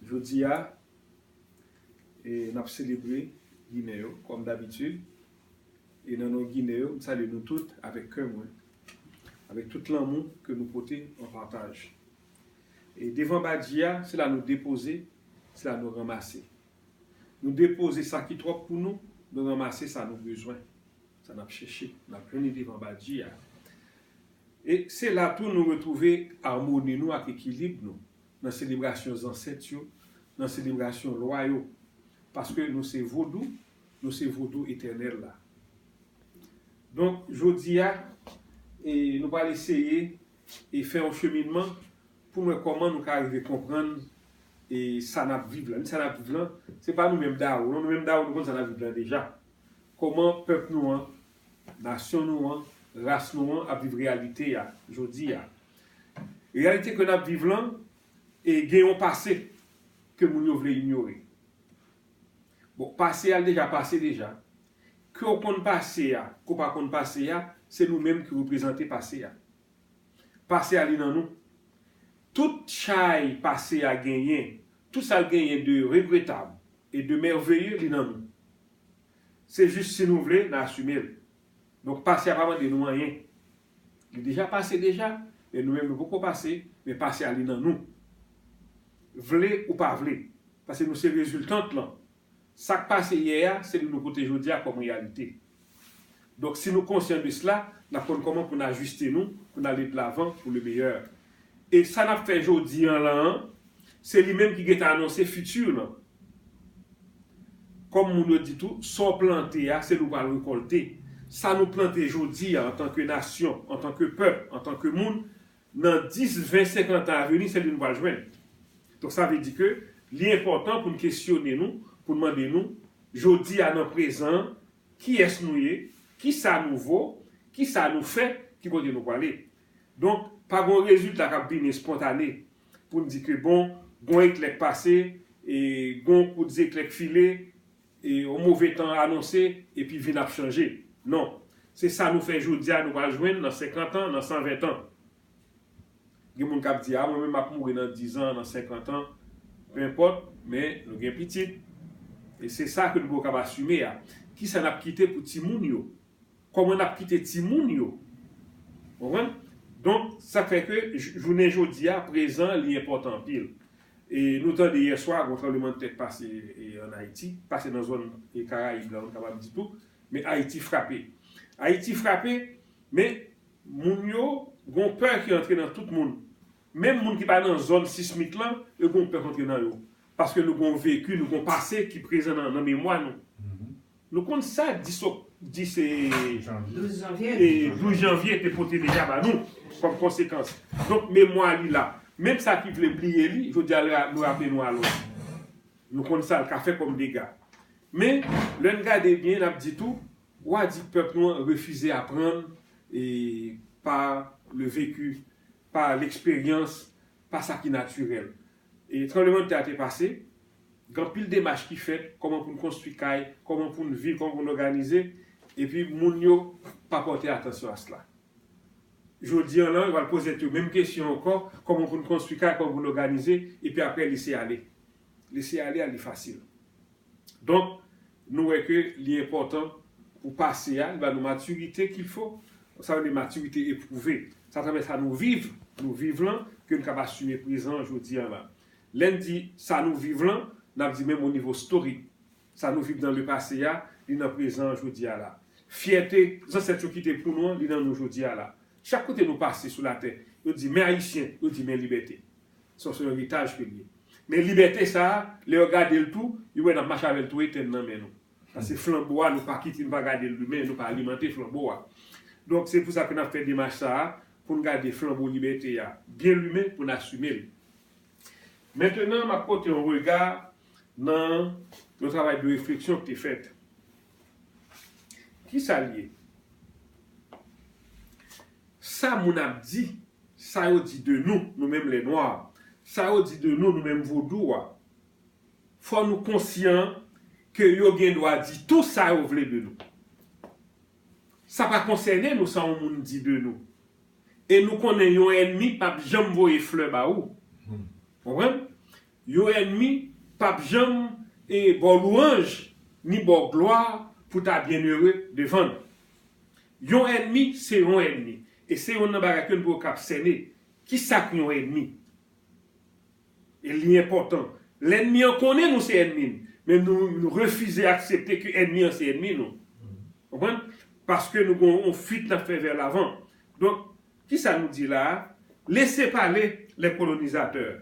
Jodi a, n ap selebre Ginen yo, kòm dabitid. E nan non Ginen yo, m salye nou tout avèk kè mwen, avèk tout lanmou ke nou pote an pataj. E devan Badji a, se la nou depoze, se la nou ranmase. Nou depoze sa ki twòp pou nou, nou ranmase sa nou bezwen, sa n ap chèche, n ap jwenn li devan Badji a. E se la tou nou retwouve amoni nou ak ekilib nou nan selebrasyon zansèt yo, nan selebrasyon lwa yo, paske nou se Vodou, nou se Vodou etènèl la. Donk, jodi a, nou pral eseye fè yon cheminman pou mwen kòman nou ka rive konprann e sa nap viv lan, ni sa nap viv lan se pa nou menm dawou non, nou menm dawou nou konn sa nap viv lan deja, kòman pèp nou an, nasyon nou an, ras nou an ap viv reyalite ya jodi ya, reyalite ke nap viv lan e gen yon pase ke moun yo vle inyore bon pase ya deja pase deja ke ou konn pase ya ke ou pa konn pase ya se nou menm ki reprezante pase ya. Pase a li nan nou. Tout chay pase a genyen, tout sa l genyen de regretab e de mèveye li nan nou. Se jis si nou vle n asime l. Donk pase a pa mande nou anyen. Li deja pase deja, men nou menm nou poko pase, men pase a li nan nou. Vle ou pa vle. Pase nou se reziltant lan. Sa k pase yè a se li nou pote jodi a kòm reyalite. Donk si nou konsyan de sla, n ap konn kòman pou n ajiste nou pou n ale dlavan pou le meyè. E sa n ap fè jodi an lan an, se li menm ki gen tan anonse fiti lan. Kòm moun yo di tou, sa w plante a, se li w pral rekòlte. Sa nou plante jodi a antanke nasyon, antanke pèp, antanke moun, nan 10, 20, 50 tan aveni se li nou pral jwenn. Donk sa vle di ke li enpòtan pou n kesyone nou, pou n mande nou, jodi a nan prezan an, kiyès nou ye, kisa nou vo, kisa nou fè, ki kote nou prale. Donk pa gon rezilta k ap vini espontane pou n di ke bon, gon eklè k pase, e gon kout zeklè k file, Yon move tan anonse, epi vin ap chanje. Non. Se sa nou fè jodi a nou pral jwenn nan senkant an, nan san ven tan. Gen moun k ap di, a mwen menm m ap mouri nan dizan, nan senkant an. Penpòt, men nou gen pitit. E se sa ke nou poko kab asime a. Ki sa n ap kite pou timoun yo? Kòman n ap kite timoun yo? Konprann? Donk, sa k fè ke jounen jodi a, prezan, li enpòtan anpil. Nou tande yè swa gwo tranblemandtè k pase an Ayiti, pase nan zòn Karayib la m kapab di tou, men Ayiti frape. Ayiti frape, men moun yo gwo pè ki antre nan tout moun. Menm moun ki pa nan zòn sismik lan, yo gwo pè k antre nan yo. Paske nou gwo veki, nou gwo pase ki prezan nan memwa nou. Nou konn sa 10 ok 10 e 12 janvye e 12 janvye te pote deja ba nou kòm konsekans. Donk memwa li la. Menm sa ki vle bliye li, jodi a la nou raple nou alòs. Nou konn sa l ka fè kòm dega. Men, lè n gade byen n ap di tou, wa di pèp nou an refize aprann e pa le vecu, pa leksperyans, pa sa ki natirèl. Tranblemann tè a te pase, gen anpil demach ki fèt, kòman pou n konstwi kay, kòman pou n viv, kòman pou n òganize, epi moun yo pa pòte atansyon a sla. Jodi an lan, yo pral poze tèt yo menm kesyon ankò, kòman pou n konstwi kay, kòman pou n òganize, epi aprè lese ale. Lese ale a li fasil. Donk, nou wè ke li enpòtan pou pase a, li ba nou matirite kil fo, sa rele matirite epwouve. Se atravè sa nou viv, nou viv lan, ke n kab asime prezan an jodi a la. Lè n di sa nou viv lan, n ap di menm o nivo storik. Sa nou viv nan le pase a, li nan prezan an jodi a la. Fyète zansèt yo kite pou nou an, li nan nou jodi a la. Chak kote nou pase sou latè, yo di men Ayisyen, yo di men libète. Son son eritaj ke l ye. Men libète sa a, lè yo gade l tou, yo wè n ap mache avè l tou etèn nan men nou. Paske flanbo a, nou pa kite, nou pa gade l limen, nou pa alimante flanbo a. Donk, se pou sa ke n ap fè demach sa a, pou n gade flanbo libète a byen limen, pou n asime l. Mentenan, m ap pote yon rega nan yon travay de refleksyon k te fèt. Kisa l ye? Sa moun ap di, sa yo di de nou, nou menm lè nwa, sa yo di de nou, nou menm vodou a, fò nou konsyan ke yo gen dwa di tou sa yo vle de nou. Sa pa konsène nou sa yon moun di de nou. E nou konnen yon ènmi pap janm voye flè ba ou. Konprann? Yon ènmi pap janm ba w lwanj ni ba w glwa pou ta byennere devan l. Yon ènmi se yon ènmi, e se yonn nan bagay ke n dwe kab sène. Kisa k yon ènmi? E li enpòtan. Lènmi an konnen nou se ènmi l, men nou refize aksepte ke ènmi an se ènmi nou. Konprann? Paske nou gen yon fuit n ap fè vè lavan. Donk, kisa nou di la a? Lese pale les colonisateurs.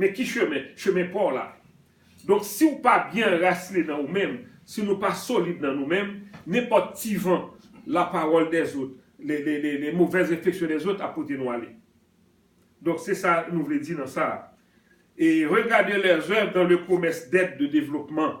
Men ki chemen? Chemen pa w la. Donk si w pa byen anrasinen nan ou menm, si nou pa solid nan nou menm, nenpòt ti van lapawòl dèzot, le movèz refleksyon dèzot ap pote nou ale. Donk se sa nou vle di nan sa a. E regarder leurs œuvres dans le commerce d'aide de développement.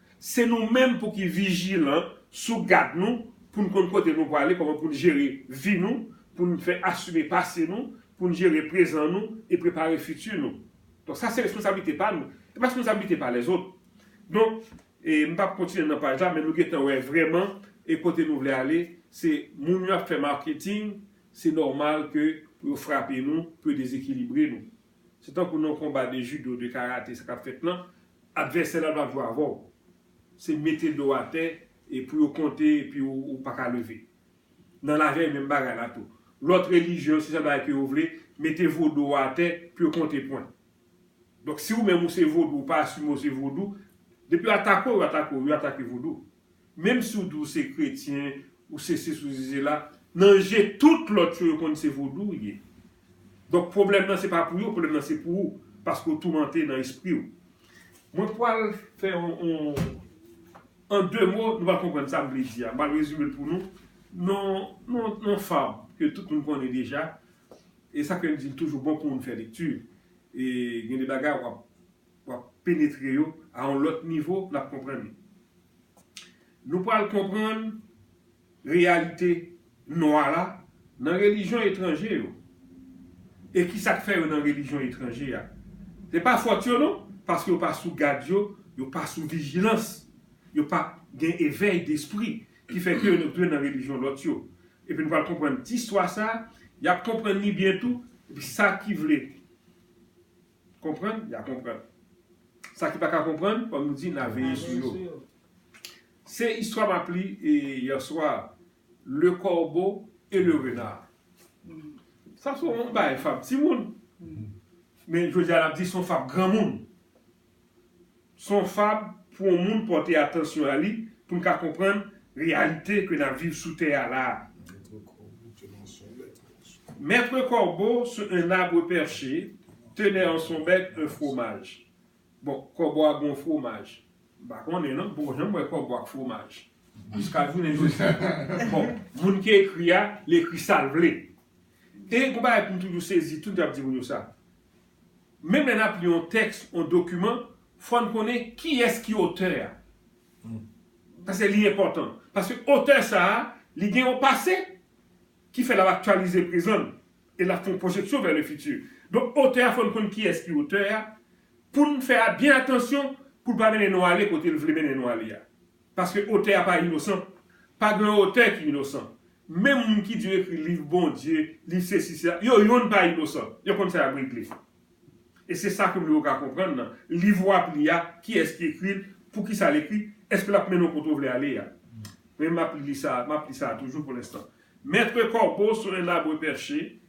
Se nou menm pou ki vijilan, sou gad nou, pou n konn kote nou prale, kòman pou n jere vi nou, pou n fè asime pase nou, pou n jere prezan nou e prepare fiti nou. Donk sa se responsablite pa nou, e pa responsablite pa lèzot. Donk, e m pap kontinye nan paj la men nou gentan wè vrèman e kote nou vle ale, se moun yo ap fè marketing, se nòmal ke pou yo frape nou, pou yo dezekilibre nou. Se tankou nan yon konba de judo, de karate sa kap fèt lan, advèsè la pap jwe avèw. Se mete dow atè e pou yo konte epi ou paka leve. Nan lavi a e menm bagay la tou. Lòt relijyon se sa bagay ke yo vle, mete vodou ou atè pou yo konte pwen. Donk si ou menm ou se vodou ou pa asime ou se vodou, depi yo atake w yo atake w, yo atake vodou. Menm si w di w se kretyen, ou se sesi ou se sela, nan je tout lòt yo, yo konn se vodou w ye. Donk pwoblèm nan se pa pou yo, pwoblèm nan se pou ou, paske w toumante nan espri w. Mwen pwal fè yon, an de mo, nou va konprann sa m vle di a. M pral rezime l pou nou, nan yon fab ke tout moun konnen deja. E sa k fè m di l toujou bon pou moun fè lekti. E gen de bagay w ap wap penetre yo a yon lòt nivo nap konprann li. Nou pral konprann reyalite nwa la nan relijyon etranje yo. E kisa k fè yo nan relijyon etranje a. Se pa fòt yo non, paske yo pa sou gad yo, yo pa sou vijilans, yo pa gen evèy despri ki fè ke yo antre nan relijyon lòt yo. Epi nou pral konprann ti istwa sa, yap konprann li byen tou, epi sa ki vle. konprann, ya konprann. Sa ki pa ka konprann, kòm nou di, na veye sou yo. Se istwa map li yèswa, Le corbeau et le renard. Sa se yon bagay fab timoun. Men jodi a nap di se yon fab granmoun. Se yon fab pou yon moun pòte atansyon a li pou n ka konprann reyalite ke n ap viv sou tè a la a. Mètre kòbo sou un abre pèche tenè an son bèk un fwomaj. Bon, kòbo a gen yon fwomaj. M pa konnen non, m poko janm wè kòbo ak fwomaj. Jiska jounen jodi a. Bon, moun ki ekri a, li ekri sa l vle. E yon bagay pou m toujou sezi, tout moun ap di moun yo sa. Menm lè n ap li yon tèks, yon dokiman, fò n konnen kiyès ki otè a. Paske li enpòtan. Paske otè sa a, li gen yon pase, ki fè l ap aktyalize prezan n e l ap fè yon pwojeksyon vè le fiti. Donk otè a fò n konn kiyès ki otè a, pou n fè byen atansyon pou l pa mennen nou ale kote l vle mennen nou ale a. Paske otè a pa inosan. Pa gen yon otè ki inosan. Menm moun ki di yo ekri liv Bondye, liv sesi sela, yo youn pa inosan. Yo konn sa y ap regle. E se sa ke m vle ou ka konprann nan liv ou ap li a, kiyès ki ekri l, poukisa l ekri, èske l ap mennen w kote ou vle ale a. Men m ap li sa a, m ap li sa a toujou pou lenstan. Maitre corbeau sur un arbre perché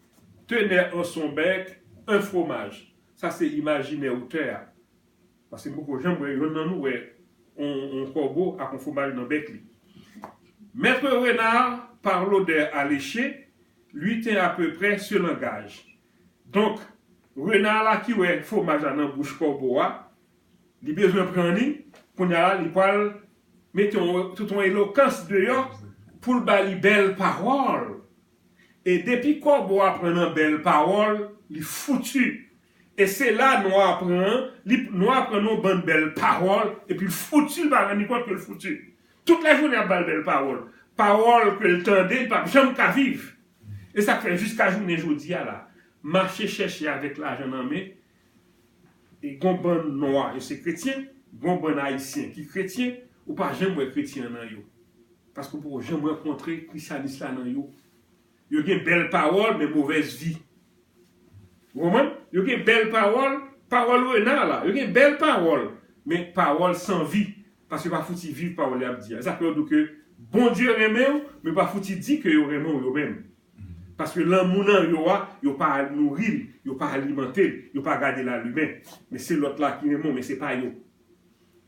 tenait en son bec un fromage. Sa se imajinè otè a. Paske m poko janm wè yonn nan nou wè on kòbo ak on fwomaj nan bèk li. Maître Renard, par l'odeur alléchée, lui tint à peu près ce langage. Donk, Renard la ki wè fwomaj la nan bouch kòbo a, li bezwen pran li, kounya la li pwal mete tout on elokans deyò pou l ba li bèl pawòl. E depi kòbo a pran nan bèl pawòl, li foutu. E se la nwa a pran an, li nwa a pran yon bann bèl pawòl epi l fouti l pa rann li kont ke l fouti. Tout lajounen y ap ba l bèl pawòl, pawòl ke l tande li p ap janm ka viv. E sa k fè jiska jounen jodi a la, mache chèche avèk lajan nan men, e gon bann nwa yo se kretyen, gon bann ayisyen ki kretyen, ou pa janm wè kretyen an nan yo. Paske ou poko janm rankontre krisyanis la nan yo. Yo gen bèl pawòl men movèz vi. Ou konprann? Yo gen bèl pawòl, pawòl Renard la, yo gen bèl pawòl, men pawòl san vi, paske yo pa fouti viv pawòl y ap di a. E sa fè yo di w ke Bondye renmen w, men yo pa fouti di ke yo renmen w yo menm. Paske lanmou nan yo a, yo pa nouri l, yo pa alimante l, yo pa gade l alumen. Men se lòt la ki renmen w, men se pa yo.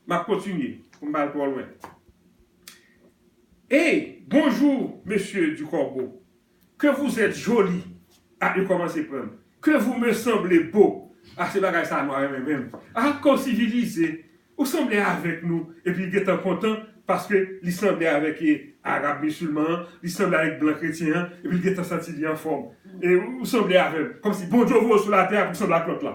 Map kontinye pou m pa al twò lwen. Hey bonjour monsieur du corbeau que vous etes joli ah yo komanse pran m que vous me semblez beau ah se bagay sa nou renmen menm ah kòw sivilize ou sanble avèk nou epi li gentan kontan paske li sanble avèk arab musulman an li sanble avèk blan kretyen an epi li gentan santi li anfòm ou sanble avèm kòmsi Bondye voye w sou latè a pou w sanble ak lòt la.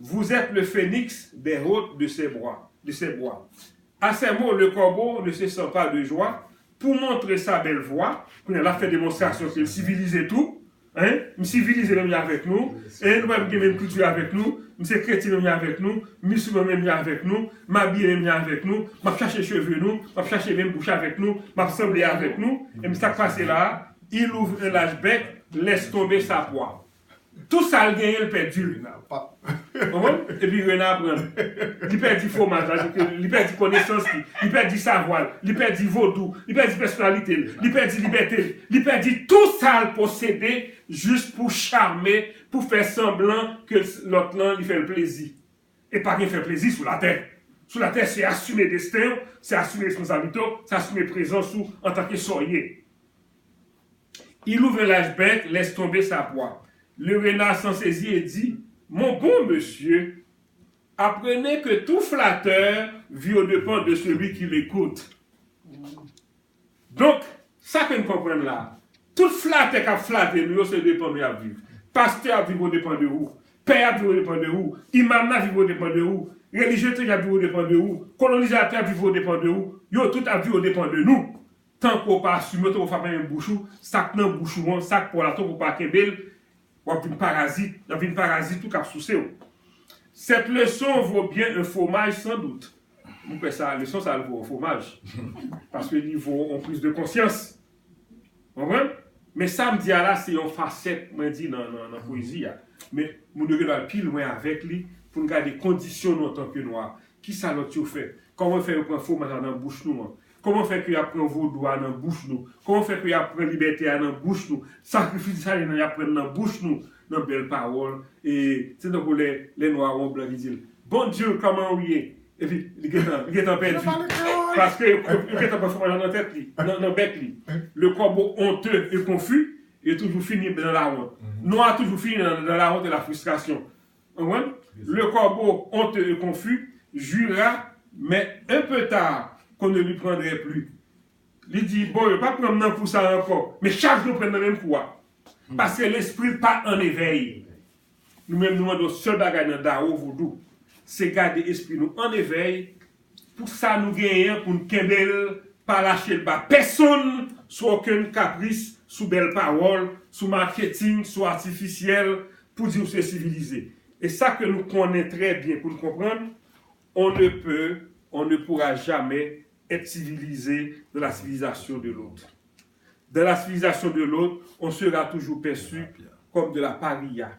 Vous êtes le phénix des hôtes de ces bois, de ces bois. A ces mots le corbeau ne se sent pas de joie pou montre sa bèl vwa, kounye a l ap fè demonstrasyon ke l sivilize tou, hein, m sivilize menm jan avèk nou, hein, nou menm gen menm kilti avèk nou, m se kretyen menm jan avèk nou, m misiman menm jan avèk nou, m abiye menm jan avèk nou, m ap chache cheve nou, m ap chache menm bouch avèk nou, m ap sanble avèk nou, enben sa k pase la a, il ouvre un large bec, laisse tomber sa proie. Tout sa l genyen l pèdi l. Rena pap. Konprann? Epi Rena pran l. Li pèdi fwomaj la, se ke li pèdi konesans li, li pèdi savwa l, li pèdi vodou, li pèdi pèsonalite l, li pèdi libète l, li pèdi tout sa l posede jis pou chame, pou fè sanblan ke lòt lan li fè l plezi. E pa gen fè plezi sou latè. Sou latè se asime desten w, se asime responsablite w, se asime prezans ou antanke sa w ye. Il ouvre l'âge bèk, laisse tomber sa pwa. Le renard s'en saisit et dit, Mon bon monsieur, apprenez que tout flatteur vit aux depens de celui qui l'écoute. Donk, sa ke n konprann la a, tout flatè k ap flate nou yo se depan nou y ap viv. Pastè ap viv odepan de ou, pè ap viv odepan de ou, imam nan viv odepan de ou, relijye etranje ap viv odepan de ou, kolonizatè ap viv odepan de ou, yo tout ap viv odepan de nou. Tankou w pa asime w, tankou w pa fèmen bouch ou, sa k nan bouch ou an, sa k pa w la tankou w pa kenbe l, w ap vin parazit, y ap vin parazit tou k ap souse w. Cette leçon vaut bien un fromage sans doute. M kwè sa, leson sa l vo yon fwomaj. Paske li vo yon prise de conscience. Ou konprann? Men sa m di a la, se yon fasèt mwen di nan pwezi a. Men moun yo gen dwa al pi lwen avèk li pou n gade kondisyon nou antanke nwa. Kisa lòt yo fè? Kòman yo fè yo pran fwomaj la nan bouch nou an? Kòman fè ke y'ap pran vodou a nan bouch nou? Kòman fè ke y'ap pran libète a nan bouch nou? Sakrifis Desalin an y'ap pran l nan bouch nou, nan bèl pawòl, e se tankou lè, lè nwa a wè yon blan ki di l, Bondye, kòman ou ye? Epi, li gen tan, li gen tan pèdi, paske yo, yo gen tan pran fwomaj la nan tèt li, nan, nan bèk li. Le corbeau honteux et confus, yo toujou fini nan lawont. Nwa a toujou fini nan, nan lawont e la frustration. Le corbeau, honteux et confus, jura, mais un peu tard, qu'on ne lui prendrait plus. Li di, Bon, yo pa pran m nan kou sa a ankò. Men chak jou yo pran m nan menm kou a. Paske lespri l pa an evèy. Nou menm nou mande yon sèl bagay nan Dao Vodou, se gade espri nou an evèy, Pou sa nou genyen an pou n kenbe l, pa lache l ba pèsonn sou okenn kapris, sou bèl pawòl, sou maketing, sou atifisyèl pou di w se sivilize. E sa ke nou konnen trè byen pou n konprann, on ne peut, on ne pourra jamais être civilisé dans la civilisation de l'autre. Dans la civilisation de l'autre, on sera toujours perçu comme de la pariya.